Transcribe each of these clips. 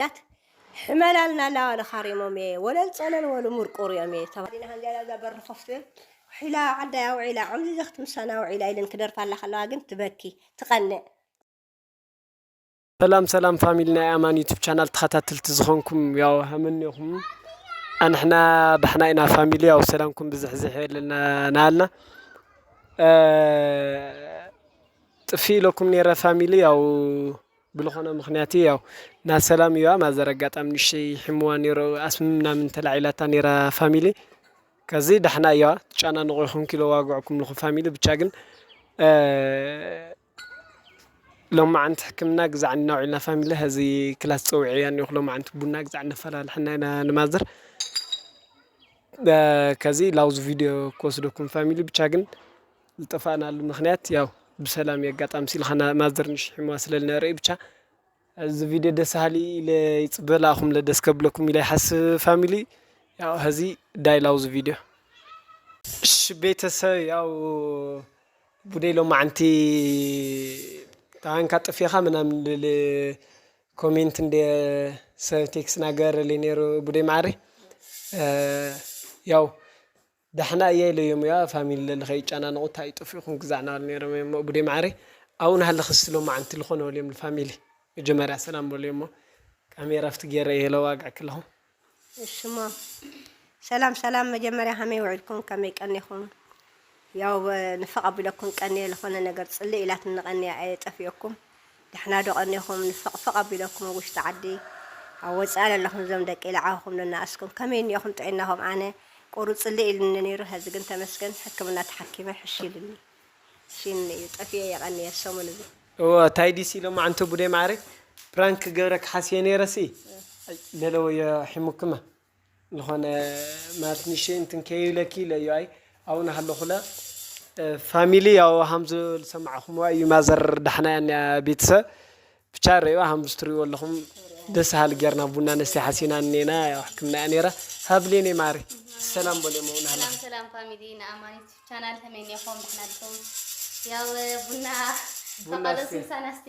ኣያት ሕመላልና ኣላ ወለ ካሪሞም እየ ወለል ጸለል ወሉ ሙርቁር እዮም እየ ተባዲና ሃንዚያላ እዛ በሪ ኮፍ ትብል ውሒላ ዓዳይ ኣውዒላ ዕምዚ ዘኽት ምሳና ኣውዒላ ኢለን ክደርፋላ ከለዋ ግን ትበኪ ትቀንእ ሰላም ሰላም ፋሚሊ ናይ ኣማን ዩቱብ ቻናል ተኸታተልቲ ዝኾንኩም ያው ሃመኒኹም ኣንሕና ባሕና ኢና ፋሚሊ ያው ሰላምኩም ብዝሕ ዝሕ የለና ናሃልና ጥፊ ኢለኩም ነረ ፋሚሊ ያው ብልኾነ ምኽንያት እዩ ያው ናብ ሰላም እዩዋ ማዘር ኣጋጣሚ ንእሽተይ ሒሙዋ ኔሩ ኣስሚ ምናምን ተላዒላታ ኔራ ፋሚሊ ከዚ ዳሕና እዩዋ ትጨናነቑ ኢኹም ኪሎዋግዑኩም ኣለኹ ፋሚሊ ብቻ ግን ሎማዓንቲ ሕክምና ግዛዕ እንድና ውዒልና ፋሚሊ ሀዚ ክላስ ፀዊዐያ እኒኹ ሎማዓንቲ ቡና ግዛዕ እነፈላልሐና ኢና ንማዘር ከዚ ላውዝ ቪድዮ ክወስደኩም ፋሚሊ ብቻ ግን ልጠፋእናሉ ምክንያት ያው ብሰላም እዩ ኣጋጣሚ ሲልካ ናብ ማዘር ንሽሒምዋ ስለ ልነበረ እዩ ብቻ እዚ ቪድዮ ደስ በሃሊ ኢለ ይፅበ ልኣኹምለ ደስ ከብለኩም ኢለ ይሓስብ ፋሚሊ ያው ሀዚ ዳይ ላውዝ ቪድዮ እሺ ቤተሰብ ያው ቡደይ ሎማዓንቲ ታንካ ጥፊኻ ምናምን ልል ኮሜንት እንደ ሰብ ቴክስ ናገረለይ ነይሩ ቡደይ መዓረይ ያው ዳሕና እየ ኢለ እዩም እያ ፋሚሊ ለሊ ከይጫናነቁ እንታይ ጠፊእኩም ግዛዕ ናበሉ ነይሮም እዩም እሞ ቡዴ ማዓረይ ኣብኡ ናሃለኪ እስቲ ሎማዓንቲ ልኮነ በልዮም ንፋሚሊ መጀመርያ ሰላም በልዮ እሞ ካሜራ ኣብቲ ገይረ እየ ለዋግዕ ክለኩ። እሺ እሞ ሰላም ሰላም መጀመርያ ከመይ ውዒልኩም ከመይ ቀኒኩም ያው ንፍቅ ኣቢለኩም ቀንየ ልኮነ ነገር ፅልእ ኢላትኒ ቀንየ ኣየ ጠፊኦኩም። ዳሕና ዶ ቀኒኹም ንፈቕፈቕ ኣቢለኩም ኣብ ውሽጢ ዓዲ ኣብ ወጻኢ ለለኹም እዞም ደቂ ልዓኹም ነናእስኩም ከመይ እኒኦኹም ጥዒናኹም ኣነ ቁሩጽልእ ኢሉኒ ኔሩ ሀዚ ግን ተመስገን ሕክምና ተሓኪመ ሕሽ ኢሉኒ ሺንኒ እዩ ጠፊኤ የቐንየ ሰሙን እዚ እወ ታይ ዲሲ ሎማዓንቲ ቡዴ ማዓረይ ፕራንክ ክገብረኪ ሓስየ ነይረሲ ኣይ ለለወዮ ሒሙክማ። ልኾነ ማርት ንሸይ እንትን ከይብለኪ ለዩ ኣይ ኣውነ ሃለኹለ ፋሚሊ ያው ሃምዝ ዝሰማዕኹምዋ እዩ ማዘር ዳሕና ያንያ ቤትሰ ብቻ ረዩ ሃምዝ ትሪእዎ ኣለኹም ደስ ሃሊ ጌርና ቡና ነስተይ ሓሲና እኔና ያው ሕክምና እያ ነይራ ሃብሌኔ ማሪ ሰላም በል የመውን ሃላ ሰላም ሰላም ፋሚሊ ንኣማን ዩቱብ ቻናል ተመኔኹም ድሕና ድኹም ያው ቡና ቡና ተቃለሱ እስኪ። ሳናስቲ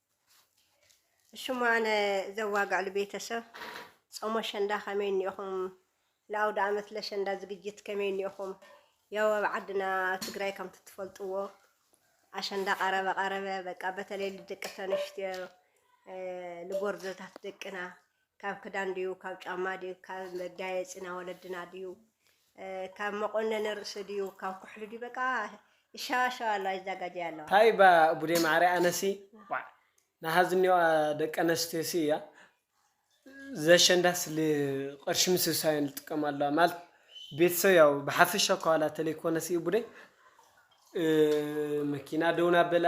ሽሙ ኣነ ዘዋግዕሉ ቤተሰብ ጾም ኣሸንዳ ከመይ እኒኦኹም ንኣውደኣመት ለሸንዳ ዝግጅት ከመይ እኒኦኹም ያው ኣብ ዓድና ትግራይ ከምቲ ትፈልጥዎ ኣሸንዳ ቀረበ ቀረበ በቃ በተለይ ልደቂ ተንሽትዮ ልጎርዘታት ደቅና ካብ ክዳን ድዩ ካብ ጫማ ድዩ ካብ መጋየፂ ናይ ወለድና ድዩ ካብ መቆነኒ ርእሲ ድዩ ካብ ኩሕሊ ድዩ በቃ ይሻባሻባ ኣለዋ ይዛጋጀያ ኣለዋ ታይ እባ ቡዴ ማዓረይ ኣነሲ ዋዕ ናሃዝኒዋ ደቀነስትዮሲ እያ ዘሸንዳስ ል ቕርሺ ምስብሳብ እየን ልጥቀማ ኣለዋ ማለት ቤተሰብ ያው ብሓፈሻ እኳ ዋላ ተለይኮነሲ ቡዴ መኪና ደው ናበላ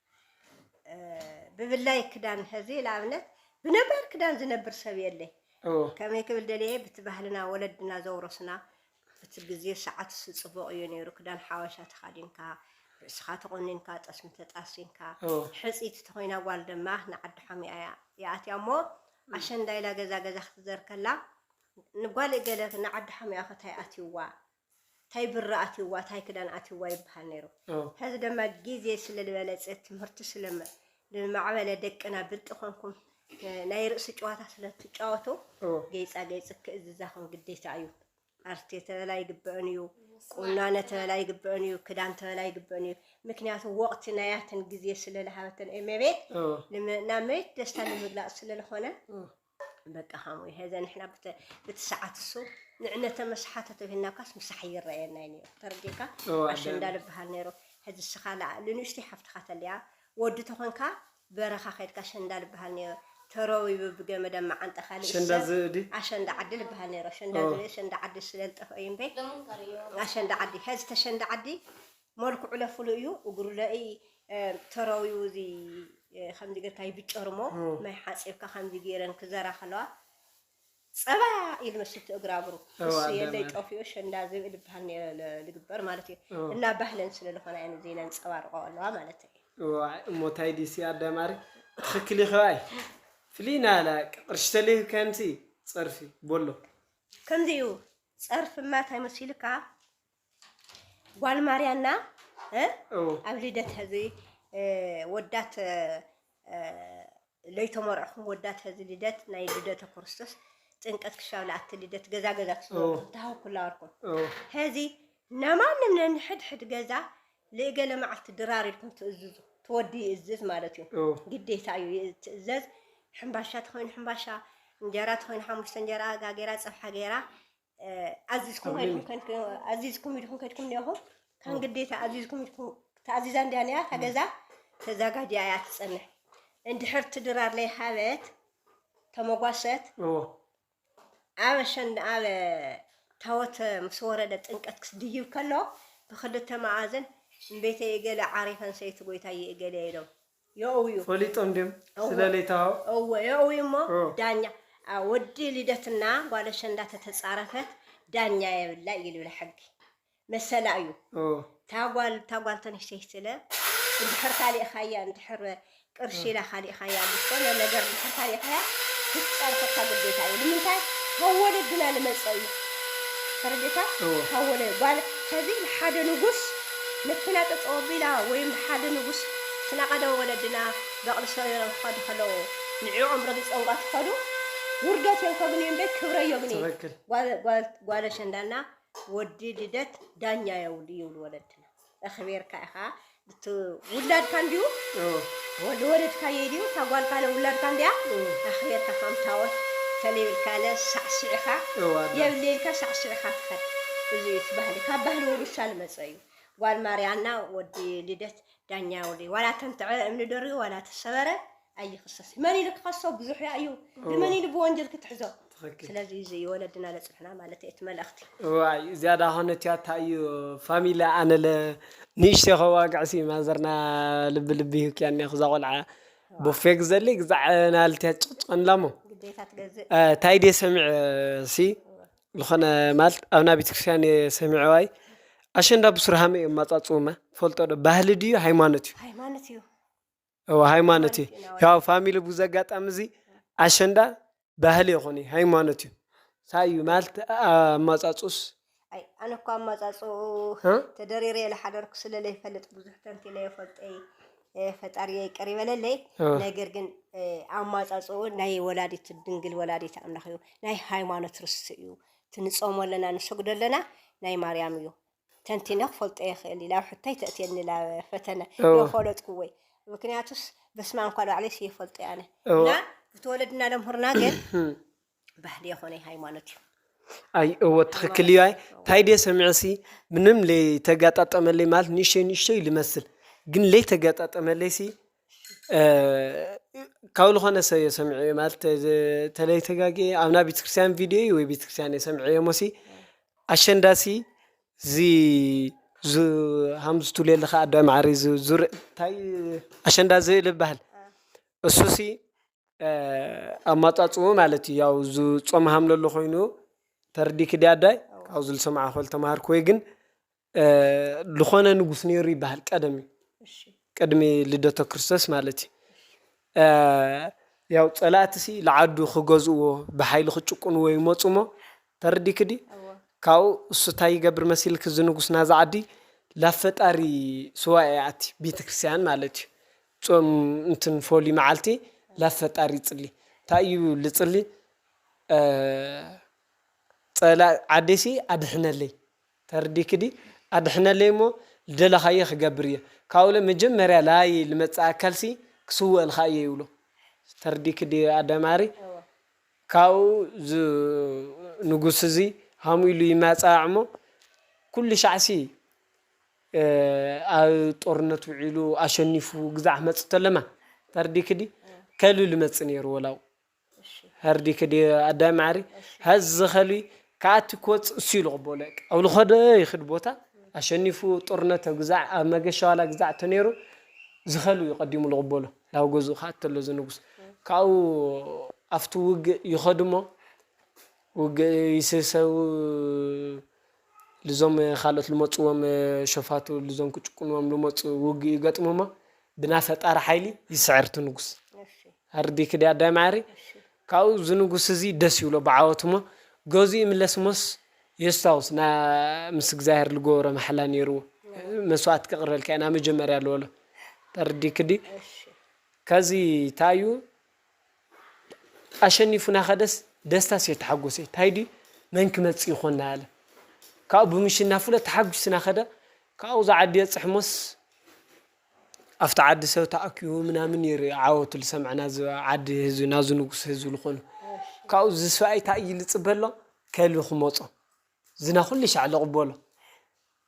ብብላይ ክዳን ሕዚ ንኣብነት ብነባር ክዳን ዝነብር ሰብ የለ ከመይ ክብል ደለየ ብቲ ባህልና ወለድና ዘውረስና እቲ ግዜ ሰዓት ስፅቡቕ እዩ ነይሩ ክዳን ሓበሻ ተኻዲንካ ርእስኻ ተቆኒንካ ጠስሚ ተጣሲንካ ሕፂት ተኮይና ጓል ድማ ንዓዲ ሓሚኣ እያ ይኣትያ እሞ ኣሸንዳ ኢላ ገዛ ገዛ ክትዘርከላ ንጓል ገለ ንዓዲ ሓሚኣ ከታይ ኣትይዋ ታይ ብሪ ኣትዩዋ ታይ ክዳን ኣትዩዋ ይብሃል ነይሩ ሀዚ ደማ ጊዜ ስለ ልበለፀ ትምህርቲ ስለ ልማዕበለ ደቅና ብልጢ ኮንኩም ናይ ርእሲ ጨዋታ ስለ ትጫወቱ ገይፃ ገይፅ ክእዝዛኹም ግዴታ እዩ ኣርቴ ተበላ ይግበእን እዩ ቁናነ ተበላ ይግበእን እዩ ክዳን ተበላ ይግበእን እዩ ምክንያቱ ወቅቲ ናያትን ጊዜ ስለ ልሃበተን ኤሜቤ ናብ መሬት ደስታ ንምግላፅ ስለ ልኾነ በቃ ሃሙይ ሀዘ ንሕና ብቲ ሰዓት እሱ ንዕነተ መስሓተ ተብሂልናካስ ምሳሕ ይረኣየናይ ነይሩ ተረዲእካ ኣሸንዳ ዝበሃል ነይሩ ሕዚ እስኻ ንንእሽቲ ሓፍትኻ ተልያ ወዲ ተኾንካ በረኻ ከድካ ኣሸንዳ ዝበሃል ነይሩ ተረዊቡ ብገመደ መዓንጠ ካልእ ኣሸንዳ ዝእዲ ኣሸንዳ ዓዲ ዝበሃል ነይሩ ኣሸንዳ ዝእዲ ኣሸንዳ ዓዲ ስለልጠፍኦ እዩ እምበይ ኣሸንዳ ዓዲ ሕዚ ተሸንዳ ዓዲ መልክዑለ ፍሉይ እዩ እግሩለ እይ ተረውዩ እዚ ከምዚ ገርካ ይብጨርሞ ማይ ሓፂብካ ከምዚ ገይረን ክዘራ ከለዋ ፀባ ኢሉ መስቲ እግራግሩ እሱ የለይ ጠፊኡ ሸንዳ ዝብእል ይበሃል ነረ ዝግበር ማለት እዩ እና ባህለን ስለ ዝኾነ እየን እዚ ነንፀባርቆ ኣለዋ ማለት እዩ እሞ ታይ ዲሲ ኣዳማሪ ትኽክል ይኸባይ ፍልይ ናላ ቅርሺ ተልዩ ከምሲ ፀርፊ ቦሎ ከምዚ እዩ ፀርፊ ማታይ መሲልካ ጓል ማርያና ኣብ ልደት ሕዚ ወዳት ለይተመርዕኹም ወዳት ሕዚ ልደት ናይ ልደተ ክርስቶስ ጥንቀት ክሻብ ለኣቲ ልደት ገዛ ገዛ ትሃኩላ ወርኩም ሕዚ ነማንም ነንሕድሕድ ገዛ ልእገለ መዓልቲ ድራር ኢልኩም ትእዝዙ ትወዲ ይእዝዝ ማለት እዩ ግዴታ እዩ ትእዘዝ ሕምባሻ ትኾይኑ ሕምባሻ እንጀራ ትኾይኑ ሓሙሽተ እንጀራ ጋጌራ ፀብሓ ገይራ ኣዚዝኩም ኢልኩም ከድኩም ኣዚዝኩም ኢልኩም ከድኩም ኒኹም ካን ግዴታ ኣዚዝኩም ኢልኩም ተኣዚዛ እንድያ ኒያ ተገዛ ተዛጋጅያ እያ ትጸንሕ እንድሕር ትድራር ለይ ሃበት ተመጓሰት ኣብ ሸን ኣብ ታወት ምስ ወረደ ጥንቀት ክስድይብ ከሎ ብክልተ መኣዝን ቤተ እገለ ዓሪፈን ሰይቲ ጎይታ ይእገለ ኢሎም የእውዩ ፈሊጦም ድዮም ስለ ለይተዋህቦ? እወ የእውዩ እሞ ዳኛ ወዲ ልደትና ጓል ኣሸንዳ ተተጻረፈት ዳኛ የብላ እዩ ልብል ሕጊ መሰላ እዩ እታ ጓል እታ ጓል ተንሽተይ ስለ እንድሕር ካሊእኻያ እንድሕር ቅርሺ ኢላ ካሊእኻያ ዝኾነ ነገር እንድሕር ካሊእኻያ ክትጸርፈካ ግዴታ እዩ ንምንታይ ካብ ወለድና ልመጸ እዩ ተረዲእካ ካብ ወለድ ጓል ከዚ ንሓደ ንጉስ መኪና ጠጠው ኣቢላ ወይም ብሓደ ንጉስ ትናቐደ ወለድና በቕሊ ሰሪሮም ክኸዱ ከለዉ ንዕዖም ረጊጾምባ ትኸዱ ውርደት እዮም ከግንዩ እምበይ ክብረ ዮግኒ ትክክል ጓል ኣሸንዳ እና ወዲ ልደት ዳኛ የብሉ ይብሉ ወለድና እኽቢርካ ኢኻ ውላድካ እንድዩ ልወለድካዮ ኢዩ እታ ጓል ካለ ውላድካ እንድያ ኣኽርየካ ከም ታወት ተለይብልካለ ሳዕሲዕኻ የብለይ ኢልካ ሳዕሲዕኻ ትኸድ እዚ እዩ እቲ ባህሊ ካብ ባህሊ ውርሻ ልመጸ እዩ ጓል ማርያና ወዲ ልደት ዳኛ ወዲ ዋላ ተንትዐ እምኒ ደርቢ ዋላ ተሰበረ ኣይኽሰስ መን ኢሉ ክኸሶ ብዙሕ ያእዩ ንመን ኢሉ ብወንጀል ክትሕዞ ስለዚ እዚ እዩ ወለድና ለፅንሕና ማለት እቲ መልእኽቲ ዋይ ዝያዳ ኾነት እያ ታዩ ፋሚላ ኣነለ ንእሽተ ከዋግዕሲ ማዘርና ልቢ ልቢ ሂውክያ እኒኹ እዛ ቆልዓ ቦፌ ግዘለይ ግዛዕ ናልትያ ጭቅጭቀንላ እሞ ግዴታ ትገዝእ ታይ ድየ ሰሚዐ ሲ ዝኾነ ማለት ኣብና ቤተክርስትያን እየ ሰሚዐዋይ ኣሸንዳ ብሱር ሃመ እዮም ማፃፅውማ ፈልጦ ዶ ባህሊ ድዩ ሃይማኖት እዩ ሃይማኖት እዩ እወ ሃይማኖት እዩ ያው ፋሚሊ ብዙ ኣጋጣሚ እዚ ኣሸንዳ ባህሊ ይኹን እዩ ሃይማኖት እዩ ታይ እዩ ማለት ኣማፃፁስ ኣይ ኣነ እኮ ኣማፃፅኡ ተደሪረ ዝሓደርኩ ስለ ዘይፈልጥ ብዙሕ ተንቲነ የፈልጠይ ፈጣሪ ይቅር ይበለለይ ነገር ግን ኣማፃፅኡ ናይ ወላዲት ድንግል ወላዲት ኣምላኽ እዩ ናይ ሃይማኖት ርስቲ እዩ ትንፀሞ ኣለና ንሰግዶ ኣለና ናይ ማርያም እዩ ተንቲነ ክፈልጦ የኽእል ኢላ ኣብ ሕቶይ ተእትየኒ ናብ ፈተነ እወ ፈለጥኩወይ ምክንያቱስ በስመ ኣብ እንኳ ባዕለይስ ይፈልጦ ያነ እወ እና ብተወለድና ለምህርና ግን ባህሊ የኾነይ ሃይማኖት እዩ ኣይ እወ ትኽክል ሃይማኖት እዩ ኣይ እወ ታይ ድየ ሰሚዐሲ ምንም ለይተጋጣጠመለይ ማለት ንእሽተይ ንእሽተይ ልመስል ግን ለይተጋጣጠመለይሲ ካብ ልኾነ ሰብ እየ ሰሚዐዮ ማለት ተለይ ተጋጊየ ኣብ ናይ ቤተክርስትያን ቪድዮ እዩ ወይ ቤተክርስትያን እየ ሰሚዐዮ ሞሲ ኣሸንዳሲ እዚ ሃምዝ ትብልዮ ኣለኻ ኣደ ማዕረ ዙር ታይ ኣሸንዳ ዝእል ይበሃል እሱሲ ኣማፃፅኡ ማለት እዩ ያው ዞም ሃምለሎ ኾይኑ ተርዲክ ድያ ኣዳይ ካብኡ ዝሰማዕኹ ዝተምሃርክወይ ግን ልኾነ ንጉስ ነይሩ ይበሃል ቀደም እዩ ቅድሚ ልደቶ ክርስቶስ ማለት እዩ ያው ፀላእቲ ሲ ልዓዱ ክገዝእዎ ብሓይሊ ክጭቁንዎ ይመፁ እሞ ተረዲኪ ድዩ ካብኡ እሱ ታይ ይገብር መሲልኪ እዚ ንጉስ ናዛ ዓዲ ላብ ፈጣሪ ሱባኤ ይኣቲ ቤተክርስትያን ማለት እዩ ፆም እንትን ፎሉይ መዓልቲ ላብ ፈጣሪ ይፅሊ ታይ እዩ ልፅሊ ፀላእ ዓደይ ሲ ኣድሕነለይ ተርዲክዲ ኣድሕነለይ እሞ ልደለካዬ ክገብር እየ ካብኡ እለ መጀመርያ ላዪ ልመፅእ ኣካል ሲ ክስወእልካ እየ ይብሎ ተርዲክዲ ኣደ ማሪ ካብኡ እዝ ንጉስ እዙ ሃም ኢሉ ይማፀኣ እሞ ኩሉ ሻዕ ሲ ኣብ ጦርነት ውዒሉ ኣሸኒፉ ግዛዕ ክመፅእ ተለማ ተርዲክዲ ከሉ ልመፅእ ነይሩ ወላኡ ሀርዲኪ ድየ ኣዳም መዓርይ ሀዚ ኸልቢ ክኣቲ ክወፅእ እሱ ኢሉ ቅበሎ እቅ ኣብሉ ኸደ ይኽድ ቦታ ኣሸኒፉ ጡርነተ ግዛዕ ኣብ መገሻ ዋላ ግዛዕ ተነይሩ ዝኸልቢ እዩ ቀዲሙ ልቕበሎ ላብ ገዝኡ ክኣቲ ተሎ ዝንጉስ ካብኡ ኣፍቱ ውግእ ይኸዱ እሞ ውግእ ይስሰው ልዞም ካልኦት ልመጽዎም ሸፋቱ ልዞም ክጭቁንዎም ልመጹ ውግእ ይገጥሙ እሞ ብና ፈጣሪ ሓይሊ ይስዕር እቲ ንጉስ ኣርዲኪ ድያ ኣዳይ ማዓረይ ካብኡ እዚ ንጉስ እዚ ደስ ይብሎ ብዓወቱ እሞ ገዝኡ ይምለስ እሞስ የስታውስ ን ምስ እግዚኣብሔር ልገበሮ ማሕላ ነይርዎ መስዋእቲ ከቅርበልካ ኢና መጀመርያ ልበሎ ተርዲኪ ድዪ ከዚ ታይ እዩ ኣሸኒፉና ከደስ ደስታስ እዮ ተሓጎሰይ ታይ ድዩ መን ክመፅእ ይኮን ናበለ ካብኡ ብምሽናፉ ለ ተሓጉስና ከደ ካብኡ እዛ ዓዲ የፅሕሞስ ኣብቲ ዓዲ ሰብ ተኣኪቡ ምናምን ይር ዓወቱ ዝሰምዐ ናዝ ዓዲ ህዝቢ ናዙ ንጉስ ህዝቢ ዝኮኑ ካብኡ ዝስብኣይ ታይ እዩ ዝፅበ ኣሎ ከልቢ ክመፆ ዝና ኩሉ ሻዕ ዝቅበሎ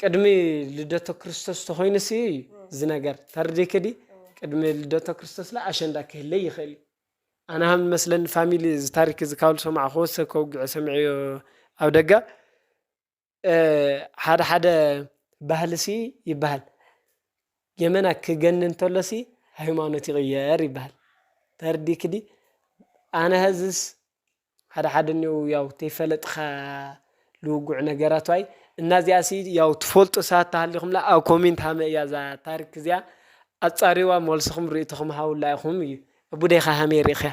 ቅድሚ ልደቶ ክርስቶስ ተኾይኑስ እዩ እዩ ዝነገር ተርዲክ ዲ ቅድሚ ልደቶ ክርስቶስ ለ ኣሸንዳ ክህለይ ይኽእል እዩ ኣነ ሃም መስለኒ ፋሚሊ እዚ ታሪክ እዚ ካብሉ ሰማዕ ክወሰ ከውግዑ ሰምዐዮ ኣብ ደጋ ሓደ ሓደ ባህል ሲ ይበሃል ገመና ክገን እንተሎ ሲ ሃይማኖት ይቕየር ይበሃል ተርዲክ ዲ ኣነ ሀዝስ ሓደ ሓደ እኔዉ ያው ተይፈለጥኻ ልዉጉዕ ነገራት ዋይ እና እዚኣ ሲ ያው ትፈልጡ ሰባት ተሃሊኹምላ ኣብ ኮሜንት ሃመ እያ እዛ ታሪክ እዚኣ ኣጻርይዋ መልስኹም ርእይቶኹም ሃቡላ ኢኹም እዩ እቡደይካ ሃመይ ርኢኽያ።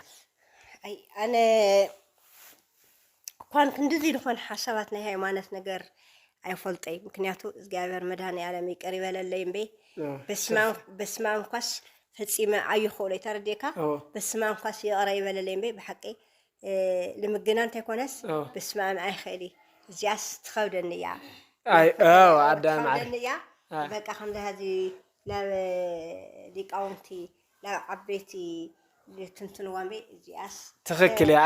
ኣይ ኣነ እኳን ክንድዚ ዝኾነ ሓሳባት ናይ ሃይማኖት ነገር ኣይፈልጠይ ምክንያቱ እግዚኣብሔር መድኃኔዓለም ይቅር ይበለለይ እምበይ በስማም በስማም ኳስ ፈጺመ ኣይኽእሎይ ተረዲእካ በስማም ኳስ ይቕረ ይበለለይ እምበይ ብሓቂ ልምግና እንተይኮነስ በስማም ኣይኽእል እዚኣስ ትኸብደኒ እያ ትኸብደኒ እያ በቃ ከምዚ ሀዚ ናብ ሊቃውንቲ ናብ ዓበይቲ ትንትንዋ እምበይ እዚኣስ ትኽክል እያ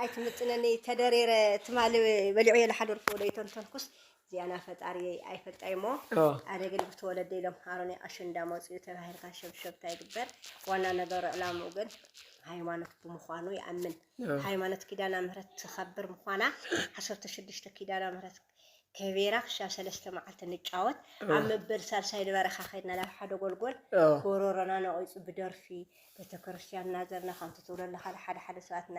ኣይትምጥነኒ ተደሪረ ትማሊ በሊዑ የለ ሓደ ርፎ ዶ ይተንተንኩስ ዚያና ፈጣሪየይ ኣይፈልጣይሞ ኣነ ግን ብተወለደ ኢሎም ሃሮኒ ኣሸንዳ መፅኡ ተባሂልካ ሸብሸብታ ይግበር ዋና ነገሩ ዕላምኡ ግን ሃይማኖት ብምዃኑ ይኣምን ሃይማኖት ኪዳና ምህረት ትኸብር ምዃና ዓሰርተ ሽዱሽተ ኪዳና ምህረት ከቤራ ክሻብ ሰለስተ መዓልቲ ንጫወት ኣብ መበል ሳልሳይ ንበረኻ ከድና ናብ ሓደ ጎልጎል ጎሮሮና ነቂፁ ብደርፊ ቤተክርስትያን እናዘርና ከምቲ ትብሎ ኣለካ ሓደ ሓደ ሰባትና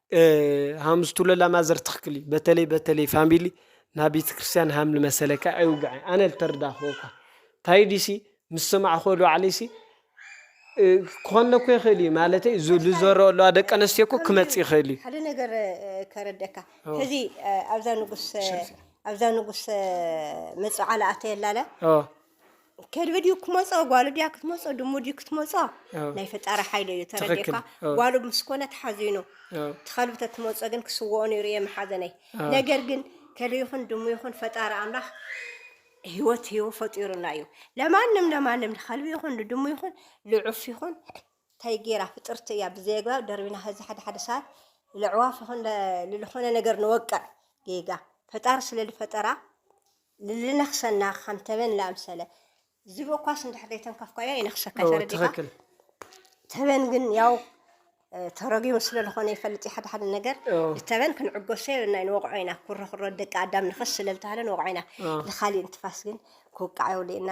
ሃምስ ቱለላ ማዘር ትክክል እዩ በተለይ በተለይ ፋሚሊ ናብ ቤተክርስትያን ሃም ልመሰለካ ኣይውግዐ ኣነ ልተረዳኽዎ እኳ እንታይ ዲሲ ምስ ሰማዕኽዎ ዶዓለይሲ ክኾነ እኮ ይኽእል እዩ ማለተይ ልዘረኦ ኣለዋ ደቂ ኣነስትዮ እኮ ክመፅ ይኽእል እዩ ሓደ ነገር ከረደካ ሕዚ ኣብዛ ንጉስ ኣብዛ ንጉስ መፅዓላ ኣተየላለ ከልቢ ድዩ ክመጾ ጓሉ ድያ ክትመጾ ድሙ ድዩ ክትመጾ ናይ ፈጣሪ ሓይሊ እዩ ተረዲእካ ጓሉ ምስ ኮነ ተሓዚኑ ትኸልቢ ተትመጾ ግን ክስወኦ ነይሩ እየ መሓዘነይ ነገር ግን ከልቢ ይኹን ድሙ ይኹን ፈጣሪ ኣምላኽ ህይወት ህይወ ፈጢሩና እዩ ለማንም ለማንም ንኸልቢ ይኹን ንድሙ ይኹን ልዑፍ ይኹን እንታይ ጌራ ፍጥርቲ እያ ብዘየግባብ ደርቢና ህዚ ሓደ ሓደ ሰዓት ልዕዋፍ ይኹን ልዝኾነ ነገር ንወቅዕ ጌጋ ፈጣሪ ስለ ዝፈጠራ ልልነኽሰና ከም ተበን ልኣምሰለ ዝብኢ እኳስ እንድሕር ዘይተንከፍካዮ ይነኽሰካ እዩ። ተረዲእካ? ትክክል ተበን ግን ያው ተረጊሙ ስለልኾነ ይፈልጥ እዩ ሓደ ሓደ ነገር ኦ፣ ንተበን ክንዕገሶ የብልና እዩ ንወቕዖ ኢና ኩሮ ኩሮ ደቂ ኣዳም ንኸስ ስለልተባህለ ንወቕዖ ኢና ኦ። ንኻሊእ እንትፋስ ግን ክውቃዕ የብሉ ኢና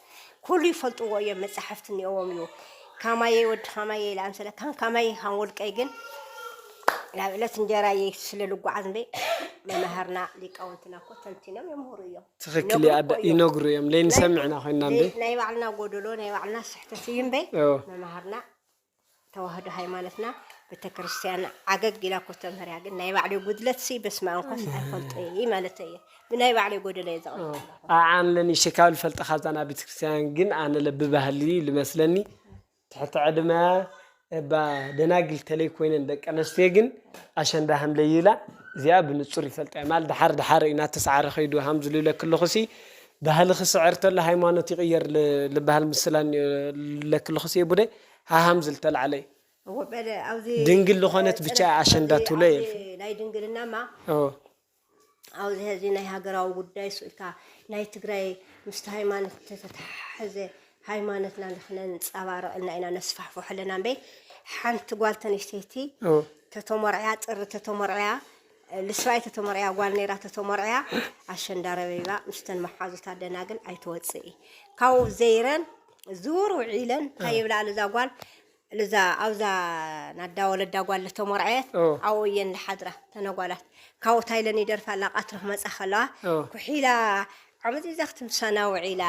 ኩሉ ይፈልጥዎ እዮም መጻሕፍቲ እኒኦዎም እዩ ካማየይ ወዲ ካማየይ ኢለ ኣምሰለ ካን ካማየይ ካን ወልቀይ ግን ናብ ዕለት እንጀራየይ ስለ ልጓዓዝ እምበይ መማህርና ሊቃውንትና እኮ ተንቲኖም የምህሩ እዮም ትኽክል እዩ ይነግሩ እኮ ኣደ እዮም ይነግሩ እዮም ናይ ለይንሰምዕ ኢና ኮይንና ናይ እንዴ ናይ ባዕልና ጎደሎ ናይ ባዕልና ስሕተት እዩ እምበይ እዎ መማህርና ተዋህዶ ሃይማኖትና ቤተክርስትያን ዓገግ ኢላ እኮ ተምህር እያ ግን ናይ ባዕለይ ጉድለት ሲ በስመ ኣብ እንኳስ ኣይፈልጦ እየ ማለት እየ ብናይ ባዕለይ ጎደለ እየ ዘቕርብ ኣለኹ ኣዓን ለኒ ሽካብ ልፈልጠ ካብዛ ናብ ቤተክርስትያን ግን ኣነ ለብባህሊ ልመስለኒ ትሕቲ ዕድመ እባ ደናግል ተለይ ኮይነን ደቂ ኣነስትዮ ግን ኣሸንዳ ሃም ለይላ እዚኣ ብንጹር ይፈልጣ እየ ማል ድሓር ድሓር ኢና ተስዓረ ከይዱ ሃም ዝልለ ክለኹሲ ባህሊ ክስዕር ተሎ ሃይማኖት ይቅየር ልባሃል ምስላ እኒኦ ልብለኪ ለኹ ስየ ቡደ ሃሃም ዝል ተላዕለ እዩ እወ በለ ኣውዚ ድንግል ልኾነት ብቻ እያ ኣሸንዳ ኣውዚ ትብሎ ኣውዚ የልፍን ናይ ድንግልናማ እወ ኣውዚ ሀዚ ናይ ሃገራዊ ጉዳይ እሱ እልካ ናይ ትግራይ ምስቲ ሃይማኖት ተተተሓሐዘ ሃይማኖትና ልክነንፃባርቅ እና ኢና ነስፋሕፎሖ ኣለና እምበይ ሓንቲ ጓል ተነሽተይቲ እወ ተተሞርዕያ ጥሪ ተተሞርዕያ ልስራይ ተተመርዕያ ጓል ነይራ ተተመርዕያ ኣሸንዳ ረቢባ ምስተን መሓዙታ ደናግል ኣይተወፅኢ ካብኡ ዘይረን ዙር ውዒለን እንታይ ይብላ ልዛ ጓል ልዛ ኣብዛ ናዳ ወለዳ ጓል ተመርዐየት ኣብኡ እየን ዝሓድራ ተነጓላት ካብኡ እንታይ ኢለን ይደርፋ ኣላ ቀትሪ ክመፃ ከለዋ ኩሒላ ዓመት እዛ ክትምሳና ውዒላ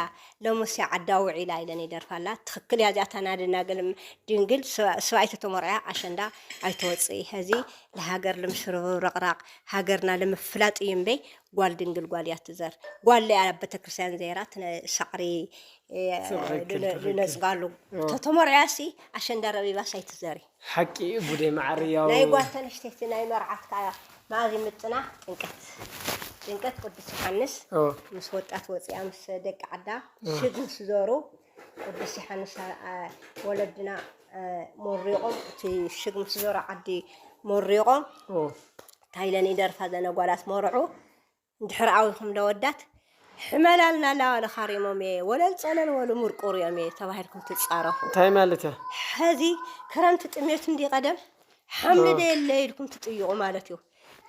ሎምስ ዓዳ ውዒላ ኢለን ይደርፋ ኣላ ትክክል እያ እዚኣታ ናይ ደናግል ድንግል ስባኣይ ተተሞርዕያ ኣሸንዳ ኣይትወጽእይ ሀዚ ልሃገር ልምሽርብብ ረቅራቅ ሃገርና ልምፍላጥ እዩ እምበይ ጓል ድንግል ጓል እያ ትዘር ጓል እያ ኣብ ቤተክርስትያን ዘይራ ሳዕሪ ልነጽጋሉ ተተሞርዕያሲ ኣሸንዳ ረቢባስ ኣይትዘሪ ሓቂ እዩ ጉደይ ማዓረይ ናይ ያው። ጓልተ ኣንሽተይቲ ናይ መርዓት ከኣ መኣዝ ይምጥና ጭንቀት ጭንቀት ቅዱስ ዮሓንስ ኦው። ምስ ወጣት ወጺኣ ምስ ደቂ ዓዳ ሽግ ምስ ዞሩ ቅዱስ ዮሓንስ ኣ ወለድና ሞሪቆም እቲ ሽግ ምስ ዞሩ ዓዲ ሞሪቆም ኦው። ታይ ኢለን ይደርፋ ዘን ኣጓላት መርዑ እንድሕር ኣዊኹም ለወዳት ሕመላልና ላዋለ ኻሪሞም እየ ወለል ፀለል ወሉ ሙርቁር እዮም እየ ተባሂልኩም ትፃረፉ እንታይ ማለት እያ ሐዚ ክረምቲ ጥሜት እንዲ ቀደም ሓምሊ ደየለ ኢልኩም ትጥይቁ ማለት እዩ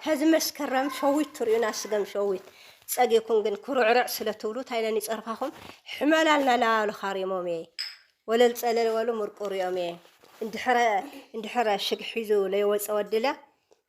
ሐዚ መስከረም ሸዊት ትሪኡና ስገም ሸዊት ፀጊኩም ግን ኩርዕርዕ ስለ ትብሉ እንታይ ኢለን ይፀርፋኹም ሕመላልና ላዋለ ኻሪሞም እየ ወለል ፀለል ወሉ ሙርቁር እዮም እየ እንድሕረ እንድሕረ ሽግ ሒዙ ለይወፀ ወድለ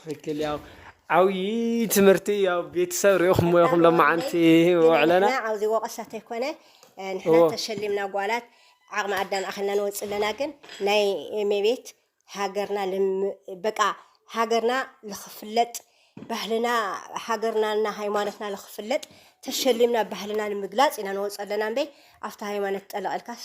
ትክክል ያው ዓብዪ ትምህርቲ ያው ቤተሰብ ሪኢኹም ሞይኹም ሎማዓንቲ ውዕለና ኣብዚ ወቀሳ ተይኮነ ንሕና ተሸሊምና ጓላት ዓቕሚ ኣዳም ኣኸልና ንወፅ ኣለና ግን ናይ ሜቤት ሃገርና በቃ ሃገርና ልክፍለጥ ባህልና ሃገርናና ሃይማኖትና ልክፍለጥ ተሸሊምና ባህልና ንምግላፅ ኢና ንወፅ ኣለና እምበይ ኣብቲ ሃይማኖት ጠለቐልካስ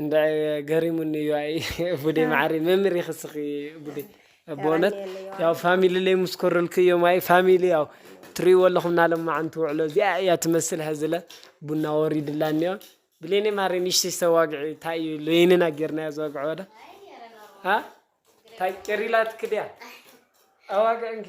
እንዳ ገሪሙኒ እዩ ኣይ ቡዴ ማዓሪ መምህር ኢኺ ስኺ ቡዴ ብእውነት ያው ፋሚሊ ለይ ምስ ኮረልኩ እዮም ኣይ ፋሚሊ ያው ትርእይዎ ኣለኹም ናሎም መዓንቲ ውዕሎ እዚኣ እያ ትመስል ሐዝለ ቡና ወሪድላ እኒኦ ብሌኔ ማሪ ንሽተሽ ተዋግዒ እንታይ እዩ ለይንና ጌርናዮ ዘዋግዐ ወደ እንታይ ቄሪላ ትክድያ ኣዋግዕ እንኪ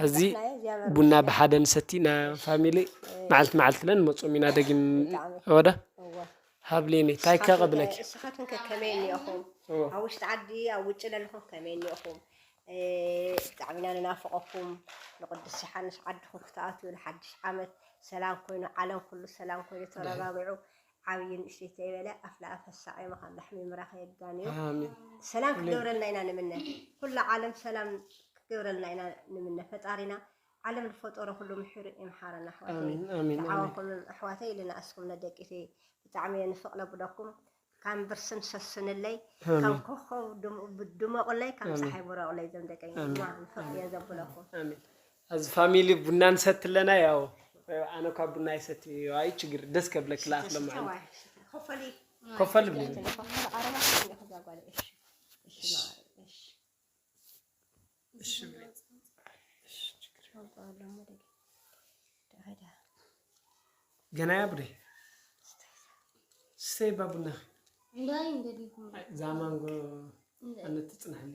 ሐዚ ቡና ብሓደ ንሰቲ እና ፋሚሊ መዓልቲ መዓልቲ እለ ንመፁም ኢና ደጊም ወደ ሃብሊኒ ታይ ከ ቅብለኪ ንስኻትኩም ከ ከመይ እኒኦኹም ኣብ ውሽጢ ዓዲ ኣብ ውጭ ለለኹም ከመይ እኒኦኹም ብጣዕሚ ኢና ንናፍቐኩም ንቅዱስ ዮሓንስ ዓድኹም ክትኣትዩ ንሓድሽ ዓመት ሰላም ኮይኑ ዓለም ኩሉ ሰላም ኮይኑ ተረጋግዑ ዓብይ ንእሽተይ ተይበለ ኣፍ ላኣፍ ኣሳቂማ ካብ ላሕሚ ምራክ የጋንዮ ሰላም ክገብረልና ኢና ንምነ ኩላ ዓለም ሰላም ክገብረልና ኢና ንምነ ፈጣሪና ዓለም ዝፈጠሮ ኩሉ ምሕሩ ይምሓረና ኣሕዋተይ ዓወኩም ኣሕዋተይ ኢልና እስኩም ነደቂተይ ብጣዕሚ እየ ንፍቅ ነብለኩም ከም ብርስን ሰስንለይ ከም ኮኸብ ድመቑለይ ከም ፀሓይ ብረቑለይ ዘም ደቀይ ንፍቅ እየ ዘብለኹም ኣዚ ፋሚሊ ቡና ንሰቲ ኣለና ያው ኣነ እኳ ቡና ኣይሰቲ እዩ ኣይ ችግር ደስ ከብለኪ ለኣክ ለማዓንቲ ኮፈል ገና ያ ቡዴ ስተይ ባ ቡናኺ ዛማንጎ ኣነ ትፅናሕኒ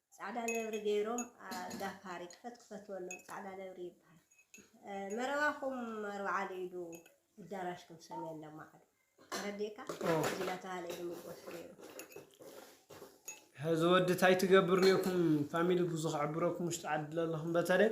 ጻዕዳ ነብሪ ገይሮም ኣጋፋሪ ክፈት ክፈት በሎም ጻዕዳ ነብሪ ይብሃል መረባኹም ኣርብዓል ኢዱ ኣዳራሽኩም ሰሜን ለማዕዱ ተረዲእካ እዚ ናተባህለ ኢሉ ምጎሱ ነይሩ ሕዚ ወዲ ታይ ትገብር ኔርኩም ፋሚሊ ብዙ ክዕብረኩም ውሽጢ ዓዲ ለለኹም በተለይ